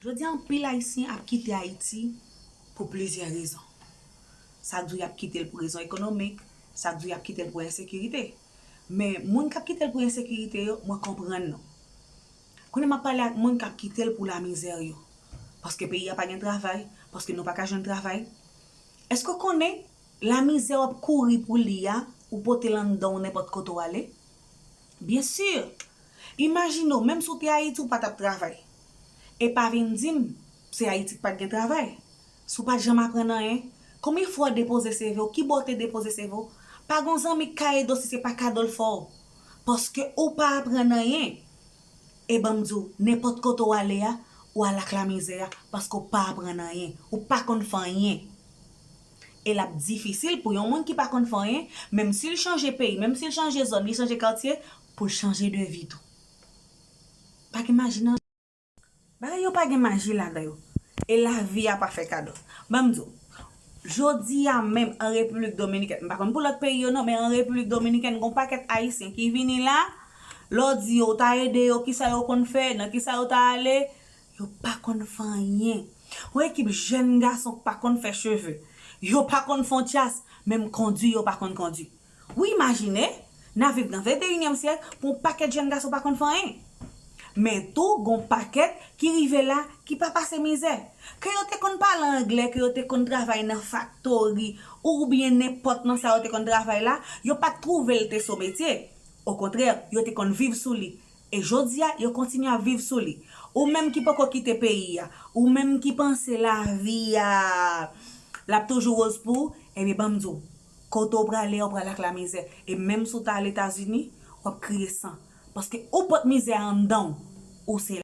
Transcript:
Jodi a anpil Ayisyen ap kite Ayiti pou plizyè rezon. Sa k di w y ap kite l pou rezon ekonomik, sa k di w y ap kite l pou ensekirite. Men, moun k ap kite l pou ensekirite yo, mwen konprann nou. Kounye a m ap pale ak moun k ap kite l pou lamizè yo. Paske peyi a pa gen travay, paske nou pa ka jwenn travay. Èske w konnen lamizè w ap kouri pou li a, ou pote l anndan w nenpòt kote w ale? Bien sûr! Imajine w, menm si w te Ayiti ou pa t ap travay. E pa vin di m, se Ayiti k pa t gen travay. Si w pa t janm aprann anyen, konbyen fwa w depoze seve w, ki bò w te depoze seve w, pa gon zanmi k ka ede w si se pa kado l fè w. Paske ou pa aprann anyen. E ban m di w, nenpòt kote w ale a, w al ak lamizè a, paske w pa aprann anyen. Ou pa konn fè anyen. e l ap difisil pou yon moun ki pa konn fè anyen, menm si l chanje peyi, menm si l chanje zòn, li chanje katye, pou l chanje de vi tou. Pa gen maji nan. Bagay yo pa gen maji ladan yo. E lavi a pa fè kado. Ban m di w, jodi a menm an Repiblik Dominikèn, m pa konn pou lòt peyi yo non, men an Repiblik Dominikèn gen yon pakèt Ayisyen ki vini la, lè w di yo ou ta ede yo, ki sa yo konn fè, nan ki sa yo ta ale, Yo pa konn fè anyen. Yon ekip jèn gason k pa konn fè cheve. Yo pa konn fon tyas, menm kondi yo pa konn kondi. Ou imajine, n ap viv nan venteyinyèm syèk pou yon pakèt jèn gason pa konn fè anyen. Men tou gon pakèt ki rive la ki pa pase mizè. Ke yo te konn pale anglè, ke yo te konn travay nan faktori oubyen nenpòt nan sa yo te konn travay la, yo pa t twouve l te so metye. Okontrè, yo te konn viv sou li. E jodi a, yo kontinye ap viv sou li. Ou menm ki poko kite peyi a, ou menm ki panse lavi a, l ap toujou woz pou ou, ebyen ban m di w, kote w prale a ou prale ak lamizè. E menm si w ta al Etazini, w ap kriye san. Paske ou pot mizè a anndan w, ou se.